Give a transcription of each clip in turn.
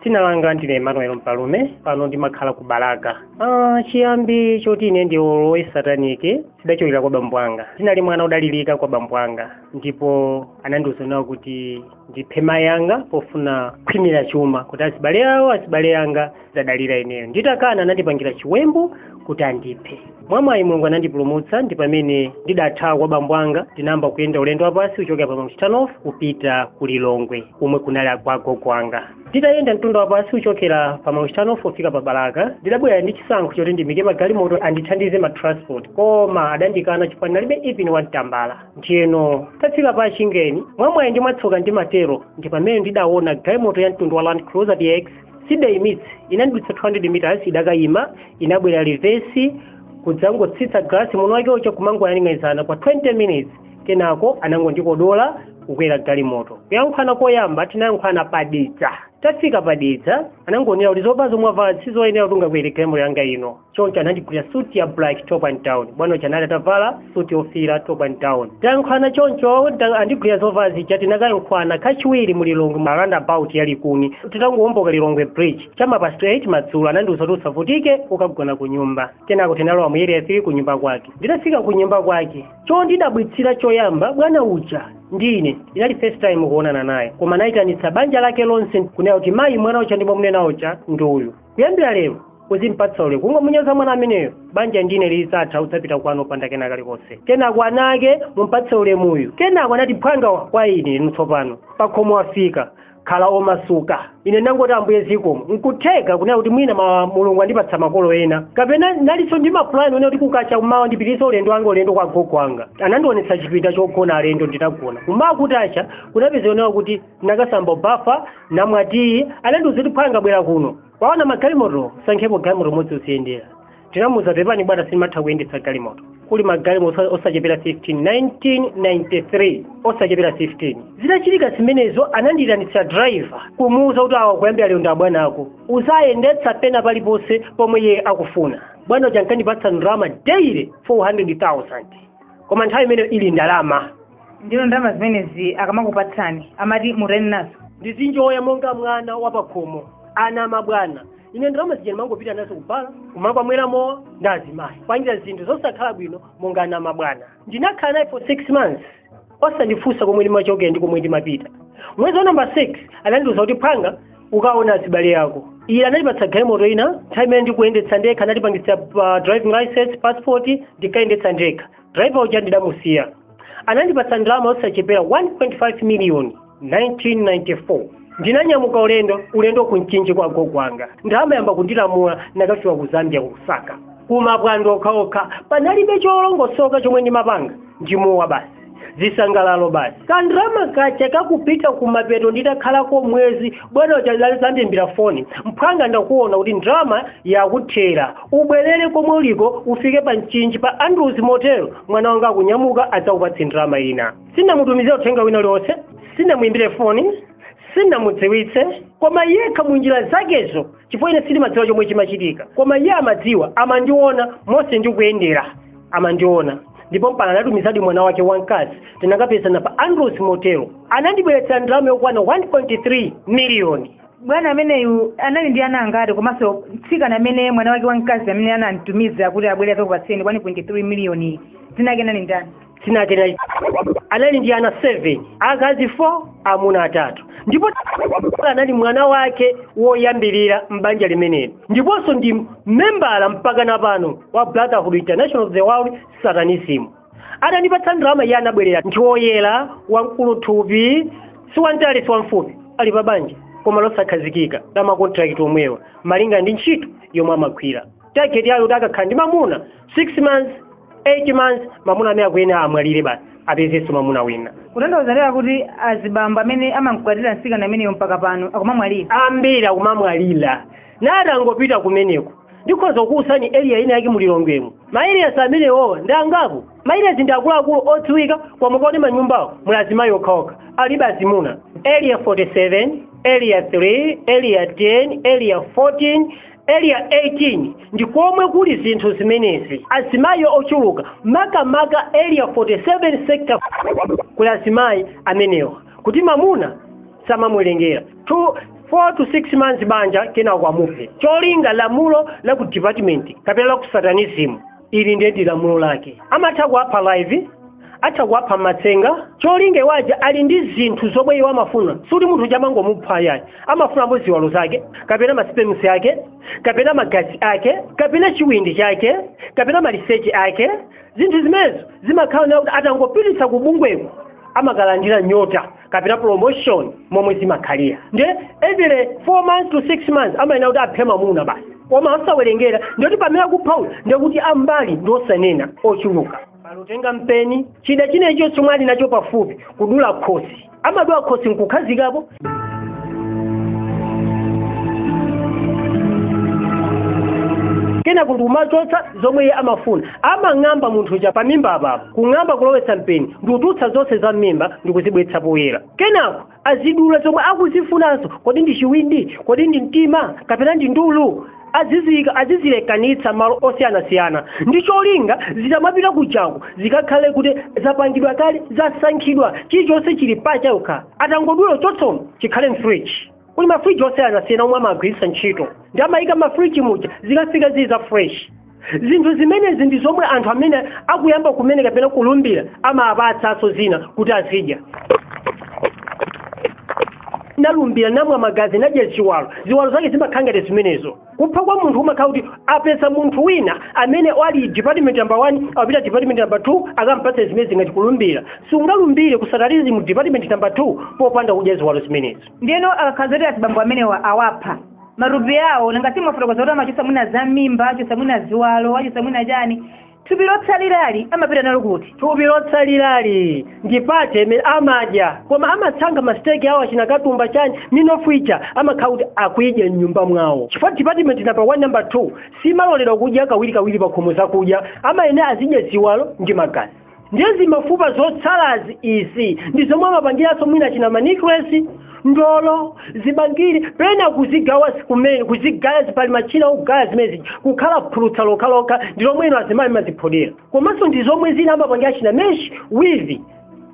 dzina langa ndine emmanuel mpalume pano ndimakhala ku balaka ah, chiyambi choti ine ndilowe sataniki zidachokera kwa bambo anga ndinali mwana odalirika kwa bambo anga ndipo anandiuza kunena kuti ndiphe mayi anga pofuna kukhwimira chuma kuti azibale awo azibale anga azidalira ineyo nditakana anandipangira chiwembu kuti andiphe mwamwayi mulungu anandipulumutsa ndi pamene ndidathawa kwa bambo anga ndinayamba kuyenda ulendo wapansi kuchokera pa mchitanofu kupita ku lilongwe komwe kunali kwa agogo anga nditayenda mtunda wapansi kuchokera pa mchitanofu kufika pa balaka ndidabwera ndi chisankho choti ndiimike magalimoto andithandize ma transport koma adandikana chifukwa ndinalibe even one tambala ndiyeno tafika pa chingeni mwamwayi ndi mwatsoka ndimatero ndi pamene ndidaona galimoto ya mtundu wa land cruiser dx sindidaimitse inandidutsa 200 meters idakayima inabwera reverse kudzangotsitsa galasi munthu wake uja kumangoyang'anizana kwa 20 minutes kenako anangondikodola kukwera galimoto kuyankhulana koyamba tinayankhulana pa Dedza tafika pa Dedza anangonena kuti zovala zomwe wavala sizoyenera kuti ungakwere galimoto yanga ino choncho anandigulira suti ya black top and down bwana uja anali atavala suti yofiira top and down tayankhwana choncho atandigulira zovala zija tinakayankhwana kachiwiri mu lilongwe mu roundabout ya likuni titangowoloka lilongwe bridge cha m'ma past 8 madzulo anandiuza kuti usavutike ukagona ku nyumba kenako tinalowa mu area 3 ku nyumba kwake nditafika ku nyumba kwake chondidabwitsa choyamba bwana uja ndine inali first time kuonana naye koma anayitanitsa banja lake lonse kunena kuti mayi mwana uja ndimamunena uja ndi uyu kuyambira lero uzimpatsa ulemu kungomunyoza mwana ameneyo banja ndine lidzatha udzapita kwanu opanda kena kalikonse kenako ana ake mumpatse ulemu uyu kenako anati phwanga kwa ine tsopano pakhomo wafika khala omasuka ine ndangoti ambuye zikomo nkutheka kunena kuti mwina mulungu andipatsa makolo ena kapena nalinso ndi mapulani onena kuti kukacha kumawa ndipitirize ulendo wanga ulendo kwa gogo wanga anandionetsa chipinda chogona alendo nditagona kumawa kutacha kunapezeka kunena kuti ndakasamba kubafa ndamwa tiyi anandiuza kuti phwanga bwera kuno waona magalimoto sankhapo galimoto imodzi uziyendera ndinamuuza pepani bwana sindimatha kuyendetsa galimoto kuli magalimoto osa- osachepera 15 1993 osachepera 15 zitachitika zimenezo anandiyitanitsa driver kumuuza kuti awa kuyambira lero ndi abwana ako uziwayendetsa pena paliponse pomwe iye akufuna bwana uja ankandipatsa ndalama daily 400000 koma nthawi imeneyo ili ndalama ndiyeno ndalama zimenezi akamakupatsani amati mutani nazo ndizinjoya monga mwana wapakhomo ana amabwana ine ndalama zija ndimangopita nazo kubala kumakamwera mowa ndi azimayi kupangira zinthu zosakhala bwino monga ana amabwana ndinakhala naye for six months osandifunsa komwe ndimachokera ndi komwe ndimapita mwezi wa namba six anandiuza kuti phwanga ukaone azibale yako iye anandipatsa galimoto ina nthawi imeneyo ndikuyendetsa ndekha anandipangitsa uh, driving license passport ndinkayendetsa ndekha driver uja ndidamusiya anandipatsa ndalama yosachepera 1.5 miliyoni 1994 ndinanyamuka ulendo ulendo ku mchinji kwa gogo wanga ndalama yamba kundilamula nakafika ku zambia kukusaka kumapwando okhaokha panalibe cholongosoka chomwe ndimapanga ndimowa basi zisangalalo basi kandrama katha kakupita kumapeto nditakhalako mwezi bwana uja adzandiimbira foni mphwanga ndakuona kuti ndrama yakuthera ubwerere komwe uliko ufike pa mchinji pa andrews motel mwana wanga akunyamuka adzakupatse ndalama ina sinamutumizire uthenga wina uliwonse sinamuyimbire foni sinamudziwitse koma yekha mu njira zakezo chifukwa ine sindimadziwa chomwe chimachitika koma iye amadziwa amandiona monse ndikuyendera amandiona ndipo mpaka anatumizadi mwana wake wamkazi tinakapezana pa andrews motel anandibweretsa ndalama yokwana 1.3 miliyoni bwana ameneyu anali ndi ana angati komanso mtsikana amene mwana wake wamkazi amene anamtumiza kuti abwere azakupatseni 1.3 miliyoni dzina lake anali ndani sinakena anali ndi ana 7 akazi 4 amuna atatu ndipo anali mwana wake woyambirira m'banja limeneli ndiponso ndi membala mpaka na pano wa brotherhood international of the world satanism atandipatsa ndalama iye anabwerera ndi woyera wamkulu thupi si wamtali si wamfupi ali pa banja koma losakhazikika la makontrakt omwewa malinga ndi ntchito yomwe amagwira target yawo kuti akakhala ndi mamuna 6 months 8 months mamuna amene akuyenere amwalire basi apezenso mamuna wina kutanthauza tere kuti azibambo amene amamkwatira mtsikana ameneyo mpaka pano akumamwalira ambiri akumamwalira natangopita kumeneko ndikhoza kukuwuzani area ina yake mulilongwemu ma areas amenewowo ndi angapo ma areas ndi akuluakulu odziwika koma mukaone manyumbawo muli azimayi okhaokha alibe azimuna area 47 area 3 area 10 area 14 area 18 ndi komwe kuli zinthu zimenezi azimayi ochuluka makamaka area 47 sector kuli azimayi amenewa kuti mamuna amamuwerengera 2 4 to 6 months banja kenako amuphe cholinga lamulo la ku department kapena la ku satanism ili ndiye ndi lamulo lake amatha kuwapha live atha kuwapha mmatsenga cholinga iwo aja ali ndi zinthu zomwe iwo amafuna sikuti munthu uja amangomupha ayayi amafunamo ziwalo zake kapena ma sperms ake kapena magazi ake kapena chiwindi chake kapena maliseche ake zinthu zimenezo zimakhala zakuti atangopititsa kubungweko amakalandira nyota kapena promotion momwe zimakhalira nde every 4 months to 6 months amayenera kuti aphe mamuna basi koma osawerengera ndikuti pamene akuphawa ndikuti ambali ndi osanena ochuluka pongotenga mpeni chida chinachilichonse chomwe ali nacho pafupi kudula khosi amadula khosi nkukhazikapo kenako ndikumachotsa zomwe iye amafuna amang'amba munthu uja pamimba apapo kung'amba kulowetsa mpeni ndi kutulutsa zonse za m'mimba ndi kuzibweretsa poyera kenako azidula zomwe akuzifunanso kodi ndi chiwindi kodi ndi mtima kapena ndi ndulu aziziyika azizilekanitsa mmalo osiyanasiyana ndi cholinga zikamapita kujaku zikakhale kuti zapangidwa kale zasankhidwa chilichonse chili pachokha akangodula choncho chikhale mfriji kuli mafriji osiyanasiyana omwe amagwiritsa ntchito nde amayika mmafriji muja zikafika zili za fresh zinthu zimenezi ndi zomwe anthu amene akuyamba kumene kapena kulumbira amapatsanso zina kuti azidya nalumbira namwa magazi nadya chiwalo ziwalo zake zimakhala ngati zimenezo kupha kwa munthu umakhala kuti apeza munthu wina amene ali department number 1 apita department number 2 akampatsa zimenezi ngati kulumbira sungalumbire kusatanizimu department number 2 popanda kudya ziwalo zimenezi ndiyeno akakhala kuti azibambo amenewa awapha matupi awo nanga si mwafotokoza kuti amachotsa mwina za mmimba achotsa mwina ziwalo achotsa mwina chani thupi lotsalirali amapita nalo kuti thupi lotsalirali ndi pate imene amadya koma amasankha masiteki awo achina katumba chani minofu ija amakhala kuti akuyidya mnyumba mwawo chifukwa department namba 1 namba 2 simaloledwa kudya kawirikawiri pakhomo zakudya amayenera azidya ziwalo ndi magazi ndiye zimafupa zotsalazi izi ndi zomwe amapangiranso mwina achina manicles ndolo zibangiri pena kuzigawa kumene kuzigaya zipali machina ogaya zimenezi kukhala phulusa lokhalokha ndi lomwe inu azimayi mumaziphodera komanso ndi zomwe zina amapangira achina mesh wivi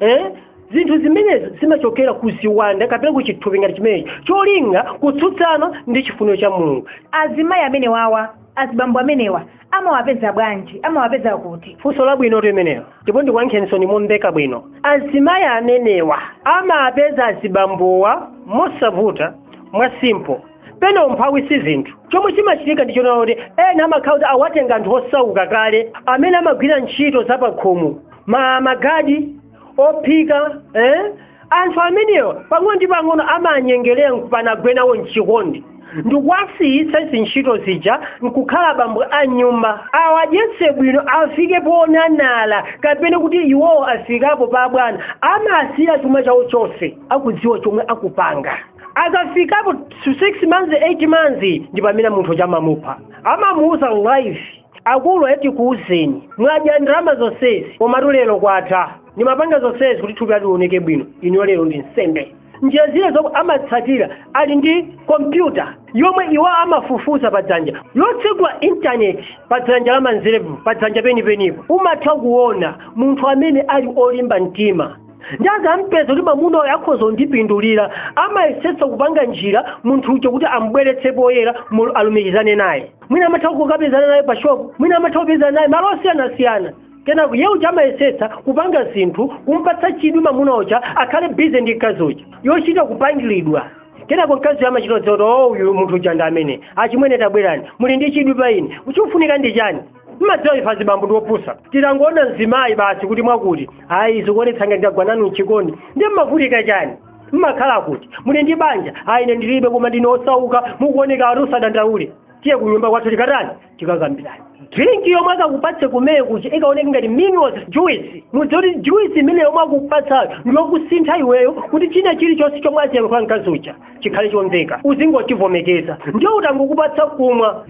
eh? zinthu zimenezi zimachokera ku ziwanda kapena ku chithupi ngati chimenechi cholinga kutsutsana ndi chifuniro cha mulungu azimayi amenewawa azibambo amenewa amawapeza bwanji amawapeza kuti funso labwino limenelo ndipo ndikuyankheninso momveka bwino azimayi amenewa amawapeza azibambowa mosavuta mwa simple pena umphawi si zinthu chomwe chimachitika ndi chonena kuti ena amakhala kuti awatenga anthu osauka kale amene amagwira ntchito zapakhomo ma magadi ophika eh? anthu amenewa pang'ono ndi pang'ono amawanyengerera nkupanga agwe nawo mchikondi ndikuwasiyitsa ntchito zija nkukhala bambo a nyumba awadyetse bwino afike ponenepa kapena kuti iwowo afikapo pa bwana amasiya chuma chawo chonse akudziwa chomwe akupanga akafikapo 6 months 8 months ndi pamene munthu uja amamupha amamuuza life akulu ayi tikuuzeni mwadya ndalama zonsezi komatu lero kwatha ndimapanga zonsezi kuti thupi lati lioneke bwino inuyo lero ndi nsembe njira zina zomwe amatsatira ali ndi kompyuta yomwe iwo amafufuza pa dzanja yotsegula intaneti pa dzanja la manzerepo pa dzanja penipenipo umatha kuona munthu amene ali olimba mtima ndi akampeza kuti mamuna uyo akhoza kundipindulira amayesetsa kupanga njira munthu uja kuti amubweretse poyera mu- alumikizane naye mwina amatha kukapezana naye pa shopu mwina amatha kupezana naye malo osiyanasiyana kenako ye uja amayesetsa kupanga zinthu kumpatsa chidwi mamuna uja akhale bize ndi mkazi uja yochita kupangilidwa kenako mkazi uja amachita kudziwa kuti o uyu munthu uja ndi amene achimwene tabwerani muli ndi chidwi pa ine chikufunika ndi chani mmadziwa ife azibambo ndi opusa titangoona mzimayi basi kuti mwakuti ayi zikuonetsa ngati ndagwa nanu mchikondi ndiye mmavutika chani mmakhala kuti muli ndi banja ayi ine ndilibe koma ndine osauka mukuoneka ati usadandaule tiye ku nyumba kwathu tikatani tikakambirani drink yomwe akakupatse kumeye kuja ikaoneka ngati minerals juice mudziwe kuti juice imene yomwe akupatsayo ndiyokusintha iweyo kuti china chilichonse chomwe aziyankhula mkazi uja chikhale chomveka uzingochivomekeza ndiye utangokupatsa kumwa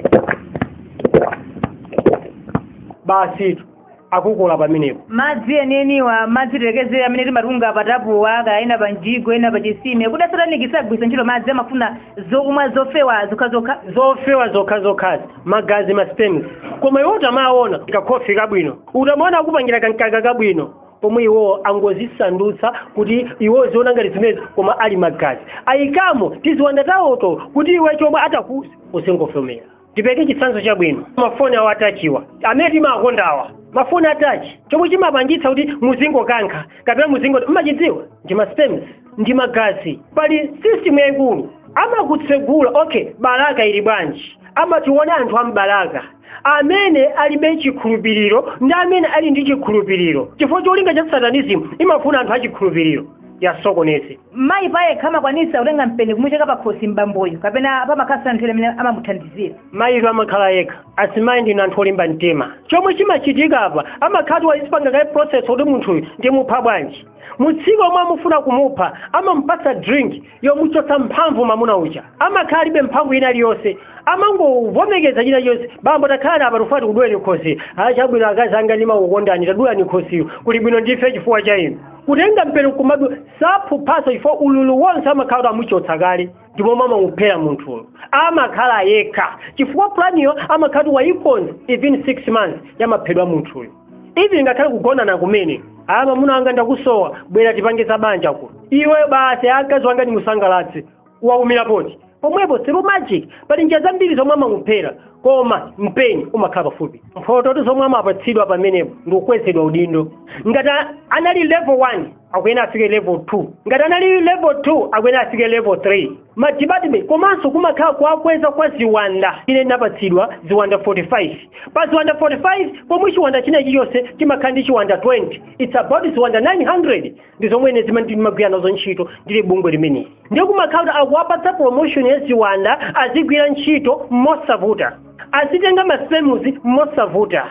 basitu akukola pamenepo madzi enieniwa madzi tiyerekeze amene timatunga pa tapuwa kaya ena pa mjigo ena pa chisime kuti asataniki sagwiritsa ntchito madzi amafuna zokumwa zofewa zokhazokha zofewa zokhazokhazi magazi masperms koma iwo utamaona kakhofi kabwino utamaona akupangira kamkaka kabwino pomwe iwo angozisandutsa kuti iwe uziona ngati zimezi koma ali magazi ayikamo tiziwanda tawoto kuti iwe chomwe atakuuze uzingovomera ndipeke chitsanzo chabwino mafoni awa atachiwa amene timakondawa mafoni atachi chomwe chimapangitsa kuti muzingokankha kapena muzingo mmachidziwa ndi masperms ndi magazi pali system yaikulu amakutsegula okay balaka ili bwanji amationa anthu a m'balaka amene alibe chikhulupiriro ndi amene ali ndi chikhulupiriro chifukwa cholinga cha satanizimu imafuna anthu achikhulupiriro iwasokoneze Mayi payekha amakwanitsa kutenga mpeni kumucheka pakhosi m'bamboyo kapena pamakhalanso anthu ena amene amamuthandizira. mayitu amakhala yekha azimayi ndinu anthu olimba mtima chomwe chimachitika apa amakhala kuti waipanga kale process kuti munthuyu ndimupha bwanji mutsiku lomwe akufuna kumupha amamupatsa drink yomuchotsa mphamvu mamuna uja amakhala alibe mphamvu ina iliyonse amangovomekeza china chonse bambo takhalani apa tikufuna tikuduleni khosi achabwino akazi anga ndimakukondani tadulani khosiyo kuli bwino ndife chifukwa cha inu kutenga mpeni kumadu saphuphaso chifukwa ululu wonse amakhala kuti amuchotsa kale ndi momwe amamuphera munthuyo amakhala yekha chifukwa planiyo amakhala kuti wayikonza even six months yamaphedwe a munthuyo even ngakhale kugonana kumene aya mamuna wanga ndakusowa bwera tipange za banja kuno iwe basi akazi wanga ndimusangalatse waumira poti pomwepo through magic pali njira zambiri zomwe amakuphera koma mpeni umakhala pafupi mphoto zomwe amapatsidwa pamenepo ndi kukwezedwa udindo ngati a- anali level 1 akuyenera afike level 2 ngati anali level 2 akuyenera afike level 3 madepartment komanso kumakhala kuwakweza kwa ziwanda ine ndinapatsidwa ziwanda 45 pa ziwanda 45 pomwe chiwanda china chilichonse chimakhala ndi chiwanda 20 it's about ziwanda 900 ndi zomwe ine zimene ndimagwira nazo ntchito ndili bungwe limeneli ndiye kumakhala kuti akuwapatsa promotion ya ziwanda azigwira ntchito mosavuta azitenga masipemuzi mosavuta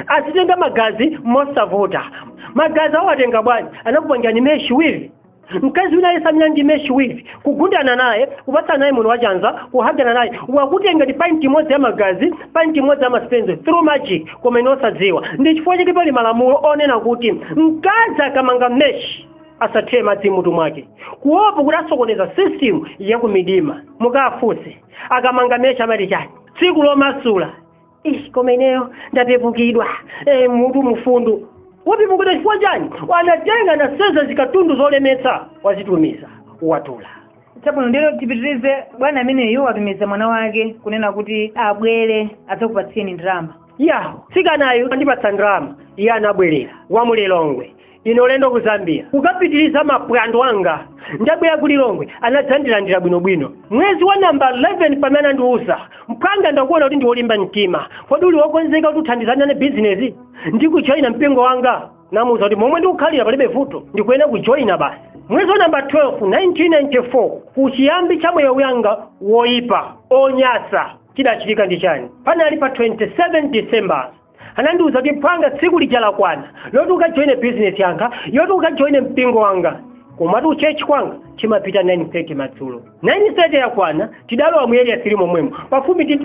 azitenga magazi mosavuta magazi awatenga bwanji anakupangirani meshi wivi mkazi wina yemwe ali ndi meshi wivi kugundana naye kupatsana naye moni wachanza kuhagana naye wakutenga painti imodzi ya magazi painti imodzi ya masipemuzi through magic koma iwe osadziwa ndi chifukwa chake pali malamulo onena kuti mkazi akamanga meshi asathire madzi mutu mwake kuopa kuti asokoneza system yakumidima mukafunse akamanga meshi amati chani tsiku lomasula Ish, koma ineyo ndapepukidwa e, mutu mufunse wapepukidwa chifukwa chani anatenga anasenza zikatundu zolemetsa wazitumiza watula chabwino ndiyeno tipitirize bwana ameneyu watumiza mwana wake kunena kuti abwere adzakupatsiyeni ndalama ya mtsikanayu andipatsa ndalama iye anabwerera wa mu lilongwe ine ulendo ku zambia kukapitiriza maphwando anga ndabwera ku lilongwe anadzandilandira bwinobwino mwezi wa namba 11 pamene anandiuza mphwanga ndakuona kuti ndiwolimba mtima kodi uli wokonzeka kuti uthandizane nane bizinesi ndi kujoyina mpingo wanga namuuza kuti momwe ndikukhalira palibe vuto ndikuyenera kujoyina basi mwezi wa namba 12 1994 kuchiyambi cha moyo wanga woyipa onyasa chidachitika ndi chani panali pa 27 december anandiuza kuti mphwanga tsiku lija lakwana loti ukajoine bizinesi yanga yoti ukajoine mpingo wanga komatu kutchalitchi kwanga timapita 9:30 madzulo 9:30 yakwana tidalowa mu area 3 momwemo pafupi ndi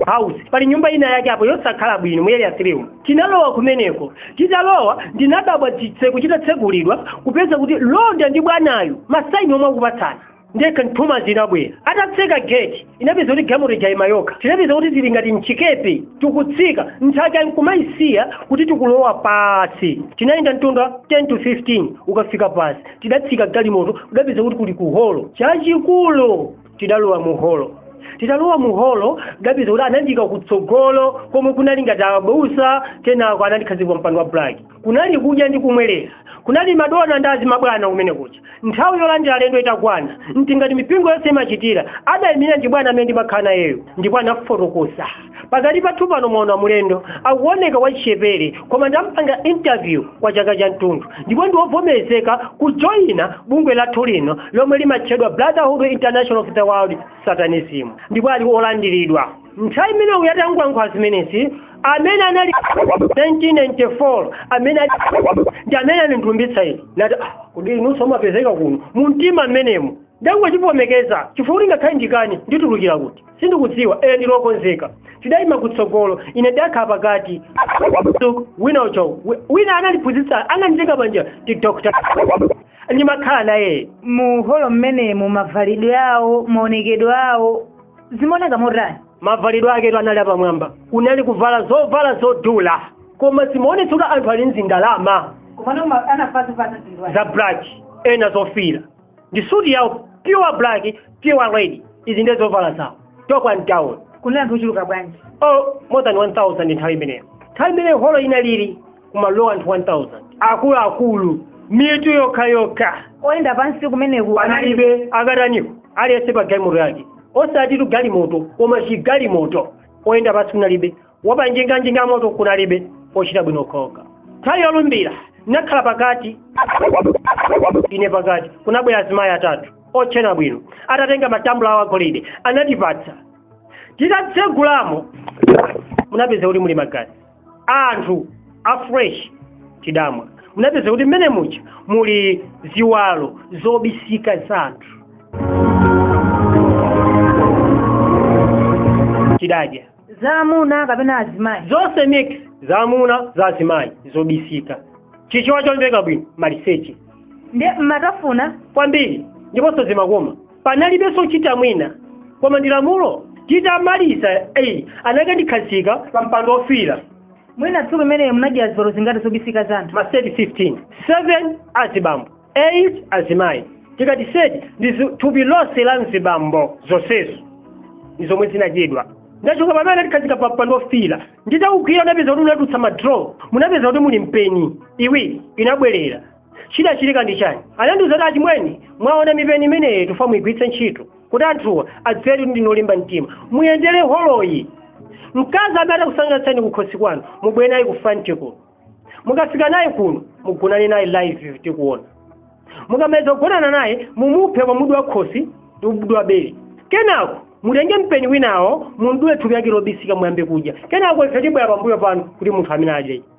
house pali nyumba ina yake apo yosakhala bwino mu area 3 umo. tinalowa kumeneko titalowa ndinadabwa chitseko chitatsegulidwa kupeza kuti mlonda ndi bwanayu masaini omwe akupatsana ndiye kanthumazi kanabwera atatseka geti tinapeza kuti galimoto ija yaima yokha tinapeza kuti tili ngati mchikepe tikutsika nthaka nkumayisiya kuti tikulowa pansi tinayenda mtunda 10 to 15 kukafika pansi tidatsika galimoto tidapeza kuti kuli chiholo chachikulu tidalowa mu holo titalowa mu holo ndidapeza kuti anandiika kutsogolo komwe kunali ngati abusa kenako anandikhazika pa mpando wa black kunali kudya ndi kumwerera kunali madona ndi azimabwana kumene kudya nthawi yolandira alendo itakwana mtingati mipingo yonse imachitira adayimirira ndi bwana amene ndimakhala nayeyo ndipo anafotokoza pakati pathu pano mwaona mulendo akuoneka wachichepere koma ndampanga interview kwa chaka chathunthu ndipo ndiwovomerezeka kujoyina bungwe lathu lino lomwe limatchedwa brotherhood international of the world satanism ndipo ali olandiridwa nthawi imene uyu atangoyankhula zimenezi amene anali 1994 amene ndi amene anandilumbiritsa ine nati "Ah, kodi inunso mumapezeka kuno mu mtima mmenemo ndangozivomekeza chifukwa kuti ngakhale ndikani nditulukira kuti sindikudziwa eye ndilokonzeka tidayima kutsogolo ine ndakhala pakati Tuk, wina uko wi- wina anandiphunzitsa ananditenga panjira ndi dr ndimakhala naye mu holo mmenemo mavalidwe awo maonekedwe awo zimaoneka motani mavalidwe aketu anali apamwamba kunali kuvala zovala zodula koma zimaonetsa kuti anthu ali ndi ndalama komano anavala zinthu za black ena zofira ndi suti yawo pure black pure red izi ndiye zovala zawo tiyerekeze ntawo kunali anthu ochuluka bwanji oh more than 1000 nthawi imeneyo nthawi imeneyo holo inalili kumalowa anthu 1000 akuluakulu mitu yokha yokha oyenda pansi kumeneku kunalibe akataniko aliyense pa galimoto yake osati tu galimoto koma chigalimoto oyenda pansi kunalibe wapanjinga njinga moto kunalibe ochita bwino okhaokha nthawi yolumbira ndinakhala pakati ine pakati kunabwera azimayi atatu otchena bwino atatenga matambula awo agolide anatipatsa titatsegulamo munapeza kuti muli magazi anthu a fresh tidamwa munapeza kuti mmene muja muli ziwalo zobisika za anthu tidadya zamuna kapena azimayi zonse mix zamuna za azimayi zobisika chichewa chomveka bwino maliseche ndiye mumatafuna kwambiri ndiponso zimakoma panalibenso kuchitira mwina koma ndi lamulo titamaliza eyi anakandikhazika pa mpando ofira mwina tsiku limenelo munadya ziwalo zingati zobisika za anthu maseti 15 7 azibambo 8 azimayi tikati seti ndi zi- thupi lonse la mzibambo zonsezo ndi zomwe zinadyedwa titachoka pamene anatikhazika pa mpando ofira nditawugwira unapeza kuti unatulutsa madraw munapeza kuti muli mpeni iwiri inabwerera chidachitika ndi chani anandiuza kuti achimwene mwaona mipeni imeneyi tikufuna muyigwiritse ntchito kuti anthuwa adziwe kuti ndinu olimba mtima muyendere holoyi mkazi amene atakusangalatseni kukhosi kwanu mubwere naye ku front kuno mukafika naye kuno mugonane naye live tikuona mukamaliza kugonana naye mumuphe pamodzi wa khosi ndi umodzi wa bere kenako mutenge mpeni winawo mumdule thupi lake lobisika muyambe kudya kenako ife tibwera pambuyo panu kuti munthu amene adye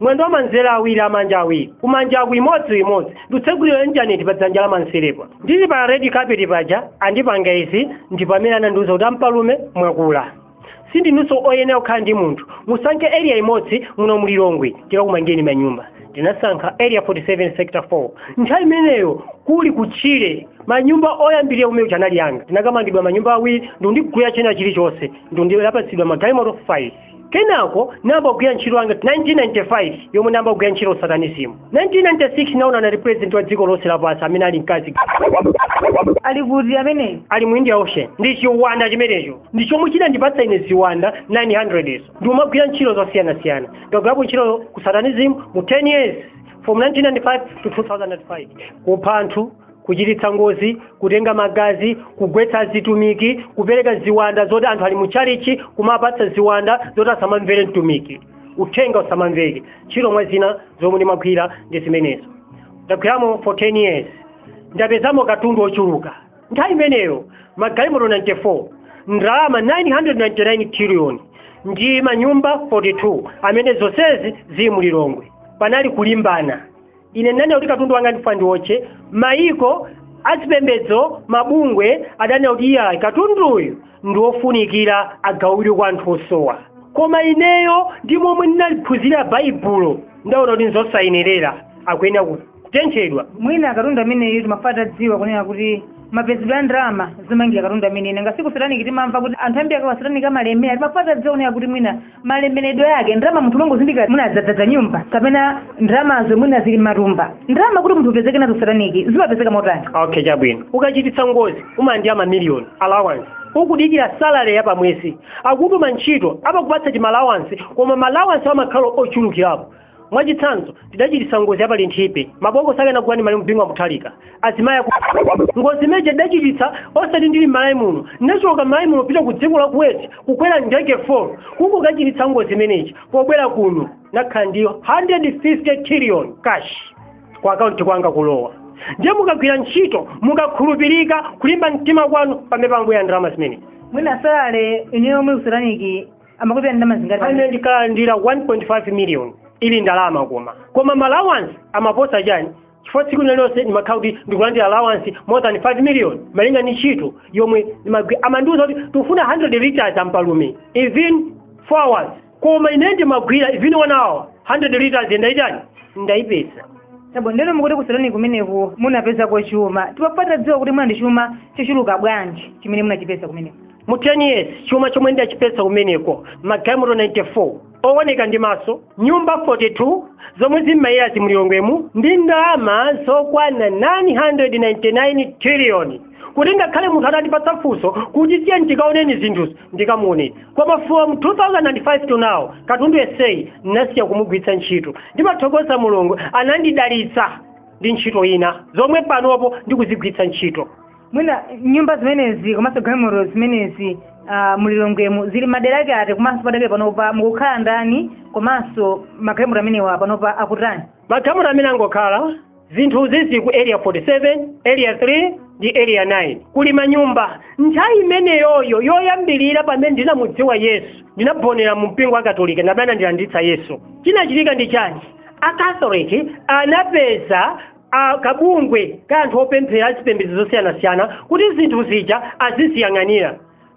mwendo wa manzere awiri amanja awiri kumanja aku imodzimodzi ndikutsegulira intaneti pa dzanja la manzerepa ndili pa red carpet paja andipanga izi ndipo amene anandiuza kuti ampalume mwakula sindinunso oyenera kukhala ndi munthu musankhe area imodzi muno mu lilongwe tikakumangireni manyumba ndinasankha area 47 sector 4 nthawi imeneyo kuli kutchire manyumba oyambirira kumene kuja anali anga ndinakamangidwa manyumba awiri ndikundigulira china chilichonse ndinapatsidwa magalimoto 5 kenako nayamba kugwira ntchito yanga 1995 yomwe nayamba kugwira ntchito kusatanizimu 1996 naonana ndi president wa dziko lonse lapansi amene ali mkazi ali kuti ameneyo ali mu india ocean ndi chiwanda chimenecho ndi chomwe chinandipatsa ine ziwanda 900 izo ndikumagwira ntchito zosiyanasiyana ndagwirapo ntchito ku satanism mu 10 years from 1995 to 2005 kupha anthu kuchititsa ngozi kutenga magazi kugwetsa azitumiki kupereka ziwanda zoti anthu ali mu tchalichi kumawapatsa ziwanda zoti asamamvere mtumiki uthenga usamamveke ntchito mwa zina zomwe ndimagwira ndi zimenezo ndagwiramo for 10 years ndapezamo katundu ochuluka nthawi imeneyo magalimoto 94 ndalama 999 trillion ndi manyumba 42 amene zonsezi zili mu lilongwe panali kulimbana ine ndinanena kuti katundu wanga ndifuna ndiwotche mayiko azipembedzo mabungwe ananena kuti iyayi katunduyu ndiwofunikira agawidwe kwa anthu osowa koma ineyo ndi momwe ndinaliphunzirira baibulo ndaona kuti nzosayenerera akuyenera kutenthedwa mwina katundu ameneyu timafuna titadziwa kunena kuti mapezedwe a ndalama zomangira katundu ameneyu nanga siku sataniki timamva kuti anthu ambiri akakhala a sataniki amalemera timafuna titadziwa kunena kuti mwina malemeredwe ake ndalama munthu umangozindikira mwadzadzadza nyumba kapena ndalamazo mwina zili mmatumba ndalama kuti munthu upezeke nazo sataniki zimapezeka motani okay chabwino ukachititsa ngozi umalandira mamiliyoni allowance ukudikira salary ya pamwezi akakutuma ntchito amakupatsa timalawansi koma malawansi amakhala ochulukirapo mwachitsanzo tidachititsa ngozi ya pa linthipe mabokosi ake anagula ndi malemu bingu wa muthalika azimayi aku ngozi imeneyi tidachititsa osati ndili m'malawi muno ndinachoka m'malawi muno kupita ku dziko la kuweti kukwera ndege 4 kukachititsa ngozi imeneyi pobwera kuno nakhala ndi 150 trillion cash ku akaunti kwanga kulowa ndiye mukagwira ntchito mukakhulupirika kulimba mtima kwanu pamene pambuya ndalama zimenezi mwina salale yomwe kusataniki amakupatsani ndalama zingati ine ndinkalandira 1.5 million ili malawi kwacha koma ma allowance amaposa chani chifukwa tsiku lililonse ndimakhala kuti ndikulandira allowance more than 5 million malinga ndi ntchito yomwe ndimagwi- amandiuza kuti tikufuna 100 liters ampalume even 4 hours koma ine ndimagwira even 1 hour 100 liters ndaitani ndaipeza chabwino ndiyeno mukuti kusataniki kumeneko munapezako chuma timafuna titadziwa kuti mwina ndi chuma chochuluka bwanji chimene munachipeza kumeneko mu 10 years chuma chomwe ndidachipeza kumeneko magalimoto 94 owoneka ndi maso nyumba 42 zomwe zimamwazika mu Lilongwemu ndi ndalama zokwana 999 triliyoni kuti ngakhale munthu atandipatsa funso kuti tiyeni tikaone zinthuzo ndikamuonetsa koma from 2005 to now katundu yenseyi ndinasiya kumugwiritsa ntchito ndimathokoza mulungu anandidalitsa ndi ntchito ina zomwe panopo ndikuzigwiritsa ntchito mwina nyumba zimenezi komanso galimoto zimenezi ah, mu Lilongwemu zili madera ake ati komanso padakali panopa mukukhala ndani komanso magalimoto amenewa panopa akutani magalimoto amenewa angokhala zinthuzi zili ku area 47 area 3 ndi area 9 kuli manyumba nthawi imeneyoyo yoyambirira pamene ndinamudziwa yesu ndinaonera mu mpingo wa katolika ndi amene anandilanditsa yesu chinachitika ndi chani akatoliki anapeza a kabungwe ka anthu opemphera a zipembedzo zosiyanasiyana kuti zinthu zija aziziyang'anira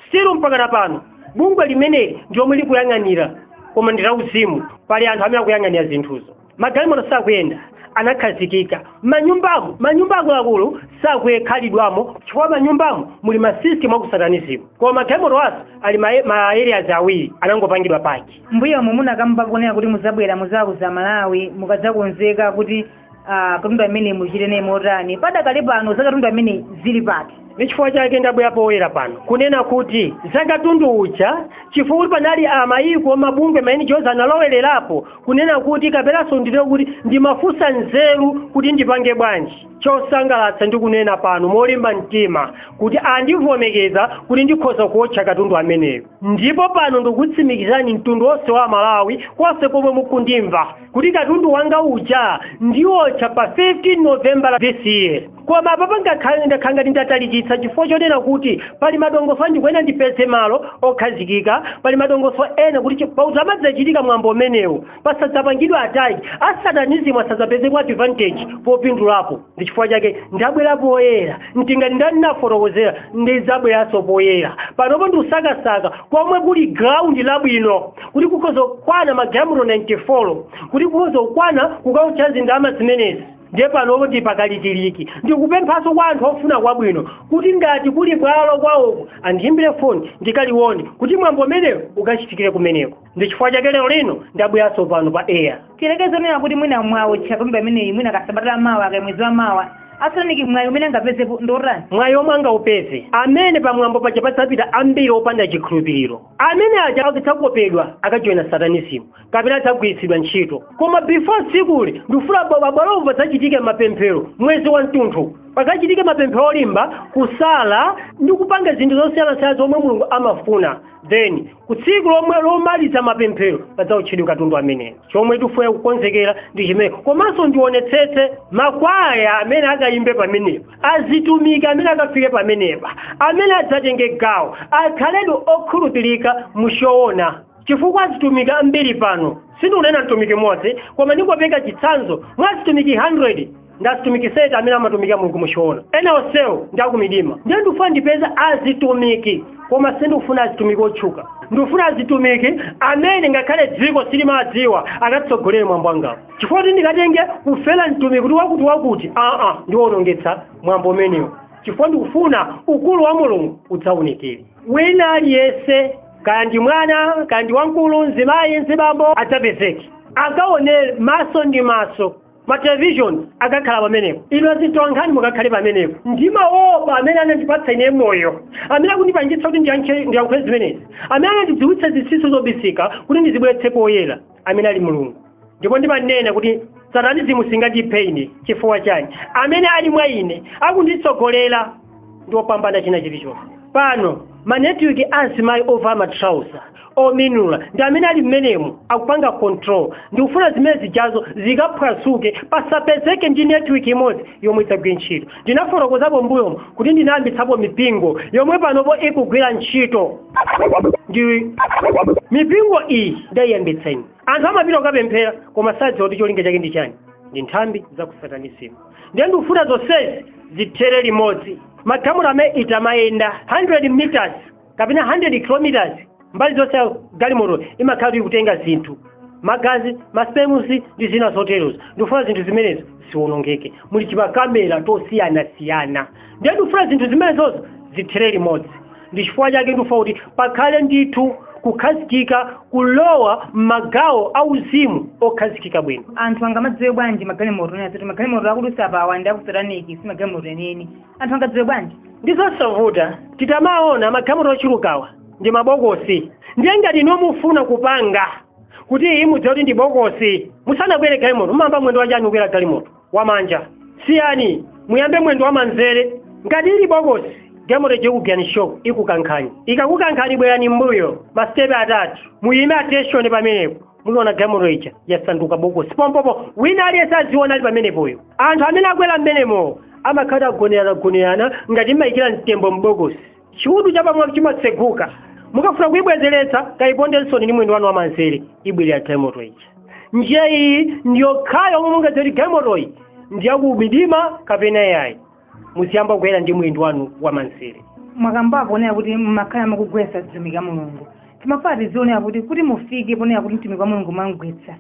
still mpakana pano bungwe limeneli ndi lomwe likuyang'anira koma ndi lauzimu pali anthu amene akuyang'anira zinthuzo magalimoto sakuyenda anakhazikika manyumbamo manyumba akuluakulu sakukhalidwamo chifukwa manyumbamo muli masystem aku satanism koma magalimoto nawonso ali ma, ma areas awiri anangopangidwa paki mbuyomu munakamba kunena kuti muzabwera muzauza amalawi mukadzakonzeka kuti ah, katundu ameneyi muchite naye motani padakali pano za katundu ameneyi zili pati ndi chifukwa chake ndabwera poyera pano kunena kuti za katundu uja chifukwa kuti panali amayiko mabungwe maeni chonse analowererapo kunena kuti kapenanso nditero kuti ndimafunsa nzeru kuti ndipange bwanji chosangalatsa ndikunena pano molimba mtima kuti andivomereza kuti ndikhoza kuotcha katundu ameneyo ndipo pano ndikutsimikizani mtundu wonse wa amalawi konse komwe mukundimva kuti katundu wanga uja ndiwotcha pa 15 novembala this year koma apa pangakhale ndakhala ngati ndatalikitsa chifukwa chonena kuti pali madongosolo enaake oti ndipeze malo okhazikika pali madongosolo ena kuti pamene uzidzachitika mwambo umenewu pasadzapangidwe attack a satanism asadzapezeko advantage popindulapo ndi chifukwa chake ndabwera poyera monga ndinafotokozera ndizabweranso poyera panopo ndikusakasaka komwe kuli ground labwino kuti kukhoza kukwana magalimoto 94 kuti kukhoza kukwana kukaotcha ndalama zimenezi ndiye panopo ndili pakalikiliki ndikupemphanso kwa anthu ofuna kwabwino kuti ngati kuli bwalo kwawoko andiyimbire foni ndikaliwone kuti mwambo umenewo ukachitikire kumeneko ndi chifukwa chake lero lino ndabweranso pano pa air tileke zonena kuti mwina mwawotcha katundu ameneyi mwina kasabata la mawa kaya mwezi wa mawa asataniki mwayi umene angapezepo ndotani mwayi omwe angaupeze amene pamwambo paja padzapita ambiri opanda chikhulupiriro amene aja akadzakopedwa akajoyina satanisimu kapena adzagwiritsidwa ntchito koma before tsikuli ndifuna pabwalopo padzachitike mapemphero mwezi wa mtunthu pakachitike mapemphero olimba kusala ndi kupanga zinthu zosiyanasiyana zomwe mulungu amafuna then ku tsiku lomwe lomaliza mapemphero padzaotchedwe katundu ameneyo chomwe tifuna kukonzekera ndi chimene komanso ndionetsetse makwaya amene akayimbe pamenepa azitumiki amene akafike pamenepa amene adzatenge gawo akhaledi okhulupirika mu choona chifukwa azitumiki ambiri pano sindikunena mtumiki mmodzi koma ndingopereka chitsanzo mwa azitumiki 100 ndi azitumiki sate amene amatumikira mulungu mu choona ena onsewo ndi akumidima ndiye ndikufuna ndipeze azitumiki koma sindikufuna azitumiki otchuka ndikufuna azitumiki amene ngakhale dziko siliwadziwa akatsogolere mwambo wangawu chifukwa kuti ndikatenge kufera mtumiki kuti wakuti wakuti aa ndiwonongetsa mwambo umenewo chifukwa ndikufuna ukulu wa mulungu udzaunikire wina aliyense kaya ndi mwana kaya ndi wamkulu mzimayi mzibambo adzapezeke akaone maso ndi maso ma television akakhala pamenepo inu azitolankhani mukakhale pamenepo ndimaopa amene anandipatsa ine moyo amene akundipangitsa kuti ndiyankhule zimenezi amene anandidziwitsa zinsinsi zobisika kuti ndizibweretse poyera amene ali mulungu ndipo ndimanena kuti satanizimu singandiphe ine chifukwa chani amene ali mwa ine akunditsogolera ndi opambana china chilichonse pano manetiweki a azimayi ovala matrauza ominula ndi amene ali mmenemo akupanga control ndikufuna zimene zijazo zikaphwasuke pasapezeke ndi netiweki imodzi yomwe idzagwire ntchito ndinafotokozapo mbuyomo kuti ndinayambitsapo mipingo yomwe panopo ikugwira ntchito ndi mipingo iyi ndidayiyambitsa ine anthu amapita kukapemphera koma sadziwa kuti cholinga chake ndi chani ndi nthambi za kusatanisimu ndiye ndikufuna zonsezi zithere limodzi makamera amene itamayenda 100 meters kapena 100 kilometers mbali zonse ya galimoto imakhala ikutenga zinthu magazi masipemu ndi zina zoterozo ndikufuna zinthu zimenezo ziwonongeke muli timakamera tosiyanasiyana ndiye tikufuna zinthu zimenezozo zithere limodzi ndi chifukwa chake ndikufuna kuti pakhale ndithu kukhazikika kulowa m'magawo auzimu okhazikika bwino anthu angamadziwe bwanji magalimoto ena zoti magalimoto akudutsa apawa ndi akusataniki si magalimoto enieni anthu angadziwe bwanji ndi zosavuta titamaona magalimoto ochulukawa ndi mabokosi ndiye ngati inu mufuna kupanga kuti iyi mudziwe kuti ndi bokosi musanakwere galimoto mumayamba mwendo wanji kukwera galimoto wamanja siyani muyambe mwendo wamanzere ngati ili bokosi galimoto ija ikugwirani shock ikukankhani ikakukankhani bwerani mbuyo masitepe atatu muyime attention pamenepo muliona galimoto ija yasanduka bokosi pompopo wina aliyense aziona ali pamenepoyo anthu amene akwera mmenemo amakhala agoneranagonerana ngati mmayikira mtembo m'bokosi chiudu chapamwamba chimatseguka mukafuna kuyibwezeretsa kayipondenso ndi mwendo wanu wamanzere ibwerera galimoto ija njira iyi ndiyokhayo yomwe mungadziwe kuti galimotoyi ndi yakumidima kapena yayi muziyamba kukwera ndi mwendo wanu wamanzere mwakambapo kunena kuti mmakhala mukugwetsa mtumiki wa mulungu timafuna tidziwe kunena kuti kuti mufike ponena kuti mtumiki wa mulungu mwamgwetsa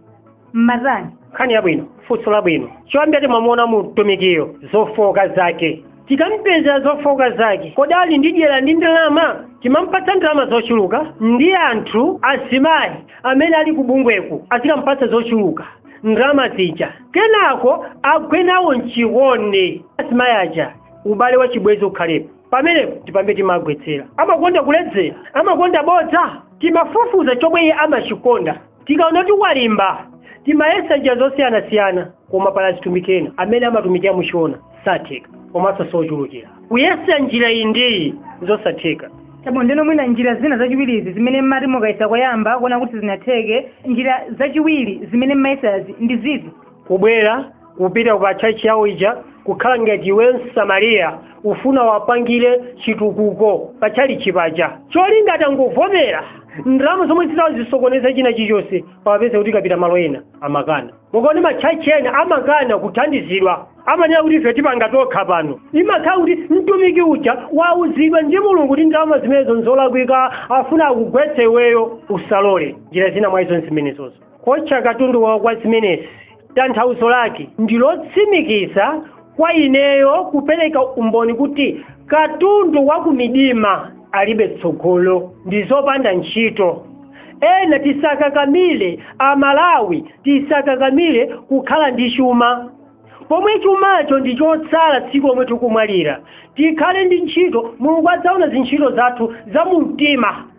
m'matani nkhani yabwino funso labwino choyambira timamuona mtumikiyo zofooka zake tikampeza zofooka zake kodi ali ndi dyera ndi ndalama timampatsa ndalama zochuluka ndi anthu azimayi amene ali kubungweku azikampatsa zochuluka ndalama zija kenako agwe nawo mchikondi azimayi aja ubale wa chibwenzi ukhalepo pamenepo ndi pamene timagwetsera amakonda kuledzera amakonda bodza timafufuza chomwe iye amachikonda tikaona kuti walimba timayesa njira zosiyanasiyana koma pali azitumiki ena amene amatumikira muchoona satheka komanso sochulukira kuyesa njira iyi ndiyi zosatheka chabwino ndeno mwina njira zina zachiwirizi zimene mmati mukayesa koyamba kuona kuti sizinatheke njira zachiwiri zimene mmayesazi ndi ziti kubwera kupita ku patchachi yawo ija kukhala ngati iwe msamariya ufuna uwapangire chitukuko pa tchalichi paja cholinga atangovomera ndalama zomwe zidzasokoneza china chilichonse pamapezeka tikapita malo ena amakana mukaone matchachi ena amakana kuthandizidwa amanena kuti ife tipanga tokha pano imakhala kuti mtumiki uja wauzidwa ndi mulungu kuti ndalama zimenezo nzolakwika afuna akugwetse iweyo usalole njira zina mwa izo nzimenezozo kuotcha katundu wa kwa zimenezi tanthauzo lake ndi lotsimikiza kwa ineyo kupereka umboni kuti katundu wa kumidima alibe tsogolo ndi zopanda ntchito ena tisakakamire amalawi tisakakamire kukhala ndi chuma pomwe chumacho ndi chotsala tsiku lomwe tikumwalira tikhale ndi ntchito mulungu adzaona zintchito zathu za mu mtima